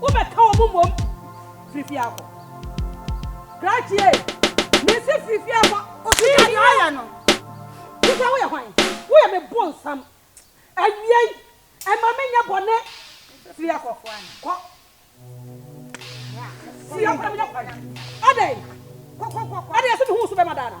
Wobɛka wɔn mmom firi fie akɔ. Krakye ei! Mese firi fie akɔ! Firi hɔ! Osika deɛ ɔyɛ no. Wo sɛ woyɛ hwan? Woyɛ me bonsam. Awiei, ɛma me nyɛ bɔne. Firi akɔ. Kɔ. Firi akɔ na menya kwan. Adɛn? Kɔ, kɔ, kɔ, kɔ. Ɛdeɛ yɛse mehu wo so bɛma daa na?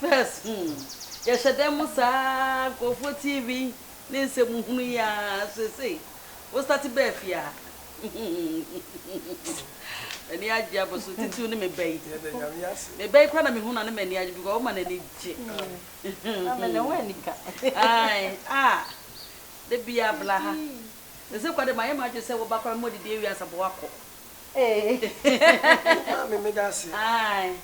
First hmm yɛhyɛ dɛn mo saa nkurɔfoɔ TV ne nsɛm hunu yi aa seesei wo starte bɛɛ fie aa m'ani agye aba so titiriw ne me ba yi me ba yi kora na mehunu a na m'ani agye because woma n'ani gye ae aa da biaa bla ha seesei kora de mayɛ m'adwene sɛ wo ba kora mema ɔdidi awie ansa bɔ wakɔ Eeii. Maame me da ase. Ae.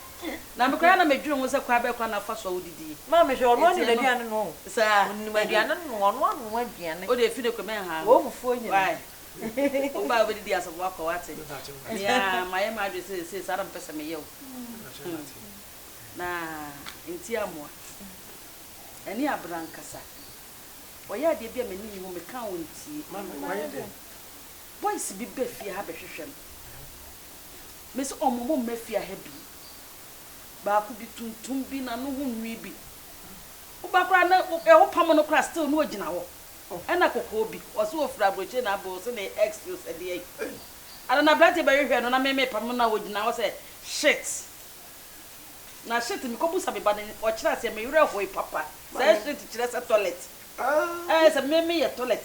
Na me koraa na me dwene ho sɛ kwan bɛn kwan na fa so a wodi die. Maame hwɛ ɔno ɔnim aduane noa o. Saa. Onim aduane noa ɔno anoa aduane. Wodeɛ fi no kɔ mɛn haa ho. Wɔ fufuo nyina. Wai. Wo ba a wobɛdi die asafo wakɔ wate. Me pakyɛ wate. Me a mayɛ m'adwene sɛ seisei saa na me pɛ sɛ meyɛ o. Me pakyɛ wate. Na nti amoa. Ani abere ankasa. Ɔyɛ adeɛ bi a m'ani nni ho meka a ɔntie. Maame wayɛ dɛn. Boys bi ba fie ha bɛhwehwɛ me. Mese ɔmo ɔmo mma fie ha bi. Baako bi tuntum bi na ne ho nwi bi. Woba koraa na wo pam no koraa still na ogyina hɔ. Ɛna kɔkɔɔ bi ɔse ofura aburokyire na abɔ ɔse ne ex no sɛ deɛ yi. Ana na aberanteɛ bɛhwehwɛ no na me me pam no na ogyina hɔ sɛ shit. Na shit me kɔ busa me ba no ɔkyerɛ aseɛ me werɛ hoe papa. Saa shit kyerɛ sɛ toilet. Ɛɛ sɛ me me yɛ toilet.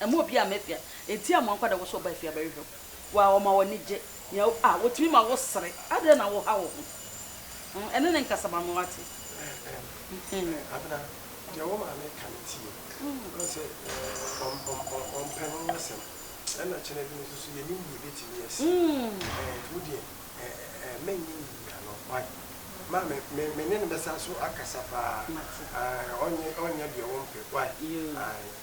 Mma obiara mma afia. Enti amoa nkwadaa wɔ so ɔba afia bɛhwehwɛ wo. Waa ɔma w'ani gye. Nea wo ah wotumi ma wo sere. Adɛn na wo ha wo ho? Hmm ɛne ne nkasa ma me wate. Ɛɛm ɛɛ Abena deɛ wo maame ka no tie. Wohu sɛ ɔm ɔm ɔm ɔmpɛ no ho asɛm. Ɛna kyɛnɛ bi no nso so yɛnim deɛ ɛbɛtumi asi. Ɛɛ nti wo deɛ ɛɛ ɛɛ mɛnyɛ nnyina no why? Ma me me me ne no bɛsan so akasa paa. Mate. Ae ɔnyɛ ɔnyɛ deɛ wompɛ why? Yoo. Ae.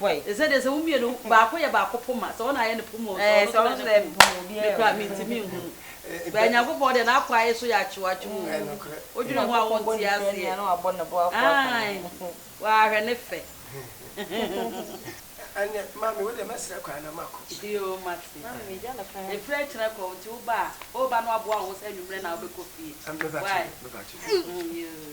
bɔe. Te sɛ deɛ sɛ wo mmienu, baako yɛ baako poma, sɛ ɔno ayɛ ne poma o, sɛ ɔno nso ayɛ ne poma o, me koraa mentumi nhunu. But Nyankopɔn deɛ n'akwaa yɛ so yɛ akyewaakyew o, wodwene ho a wonte aseɛ. Aane, waa hwɛ ne fɛ. Ɛnneɛ maame wo deɛ mɛsrɛ kwan na makɔ. Yoo mate. Ɛfiri akyire kɔ, nti wo ba a, wo ba no aboa wo ho sɛ anwummerɛ na wobɛkɔ fie. Why? Mebɛkye no, mebɛkye no. Yoo.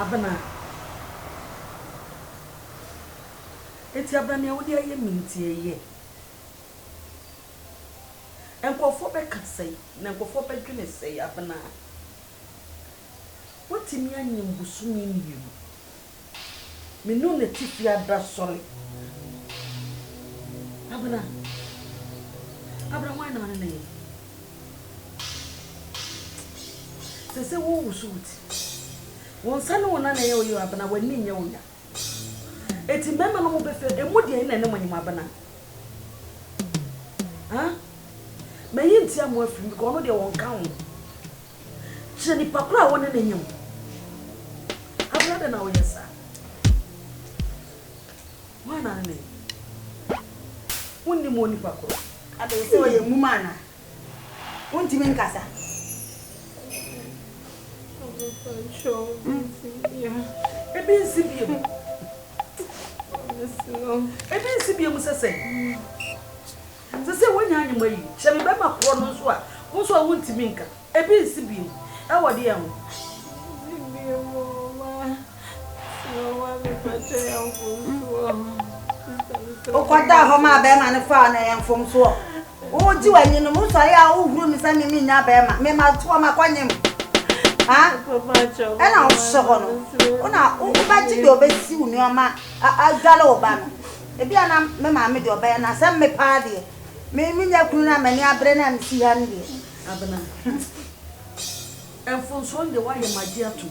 Abena, enti Abena nea wode ayɛ me nti ɛyɛ? Nkurɔfoɔ bɛka sɛn na nkurɔfoɔ bɛdwene sɛn Abena? Watumi anyin bosome mmienu. Me ne wo na atifi abira sɔre. Abena, Abena hwan na ɔne no yɛ? Seesei worewoso wo ti. Wo nsa ne wo nan na ɛyɛ wo ya o, Abena, w'ani nyɛ wo ya. Eti mmarima no mo bɛ fɛ emu deɛ ɛna ɛne mo nye mo abena ah mɛyi ntia mo afiri mu because ɔno deɛ wɔn ka ho kyerɛ nipa koro a wɔne ne nye mo abena de na ɔyɛ saa wɔn na ne ne nye mo nni mo nipa koro. Adɛn sɛ ɔyɛ nwuma anaa? Wontumi nkasa. Ebi nsi bio. Ebi nsi bio mu sɛ sɛn? Sɛ sɛ woanya anwoma yi, hyɛ me bɛrima korɔ no nso a, wo nso a wontumi nka. Ebi nsi bio. Ɛwɔ deɛn ho? wokɔdaa hɔ maa bɛrima no faa no ɛyɛ mfomsoɔ wogye w'ani no musɔre a wohuru me sɛ me menya bɛrima mema toɔ makɔnyem ɛna wohyɛ hɔ no wona wobɛgye deɛ ɔbɛsi wo nneɛma adwale wo ba no ebi a na me maame deɛ ɔbɛyɛ no asɛm me paa deɛ menya kunu no a m'ani abere no a mesi ha no deɛ abena mfomsoɔ no deɛ woayɛ magye atom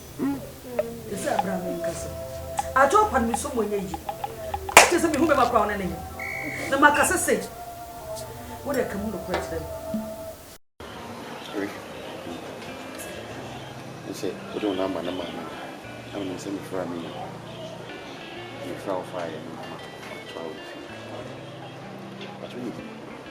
Hu me sɛ bra me nkasa. Adwo pa no me so mu ɛnyɛ yie. Ɛkyɛ sɛ me hu bɛma koraa ɔne ne nyɛ. Na ma kasa sage. Wo deɛ ka mu nokorɛ kyerɛ me. Hwɛ me yi. Me sɛ wode wo number no maa me no. Na wo nim sɛ me fra me nua. Nti me fra wo faeɛ no na ma toa wo fie. Pakyɛ wo nim.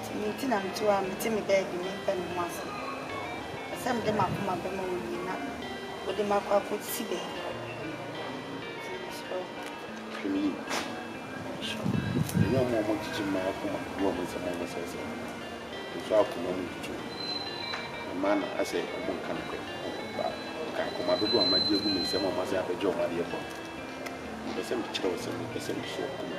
Nti me nti na metu a mete me baabi memfɛ me ho ase Pɛ sɛ mede m'akoma bɛma wo nie na wode me akɔ akɔsi baabi Nti mesrɛ wo hwɛ me yie Mehwɛ wo Ɛnyɛ ɔmo a ɔmo kyekye mmaa akoma ne ɔmo nsɛm a ɔmo sɛesɛe no no nso akoma mu twitwi wɔn Na mmaa no asɛ ɔmo nka nokorɛ ho But nka akoma dodoɔ a magye agu me nsam a ɔmo asan abɛgye ɔmo adeɛ fam Mepɛ sɛ mekyerɛ wo sɛ mepɛ sɛ meso akoma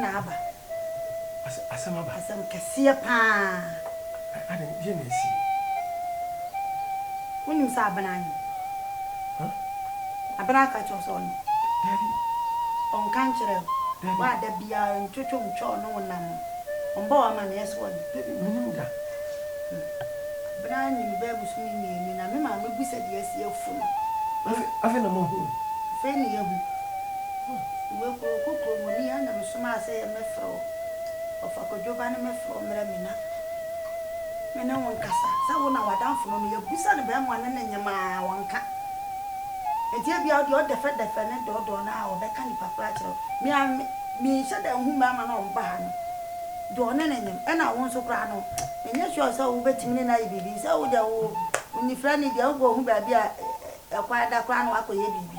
na aba. Asɛm aba. Asɛm kɛseɛ paa. Adɛn, deɛ na asi? Wonim sɛ Abena anim? Abena aka kyerɛ wo sɛ ɔnim? Dabi. Ɔnka nkyerɛ wo? Dabi. Wo a da biara ntwotwo ntwa ɔne wo nam no, ɔmmɔ wo amanneɛ sɛ ɔnim? Dabi, menim da. Abena anim bɛɛ bosome mmienu na me maame bu sɛ deɛ asi afu no. Afei na moahunu? Afei na yɛahu. Wo kuro kokro mu ni a na me somaa sɛ yɛ me frɛ wo ɔfa kwadwo ba ne me frɛ wo mmerɛ me na me ne wo nkasa sɛ wo na w'adamfo no no yɛ bisa no bɛɛmoa ne ne nyem a ɔnka nti ebia ɔdeɛ ɔdɛfɛ dɛfɛ ne dɔɔdɔɔ no a ɔbɛka nipa koro akyerɛ wo me a me me nhyɛ da nhu bɛɛma no a ɔmba ha no deɛ ɔne ne nyem ɛna wo nso koraa no me nyɛ sure sɛ wo bɛtumi ne no ayɛ biribi sɛ wo deɛ wo wo nifrɛ ne deɛ wo bɔ hu baabi a ɛkwan da koraa na wakɔ yɛ biribi.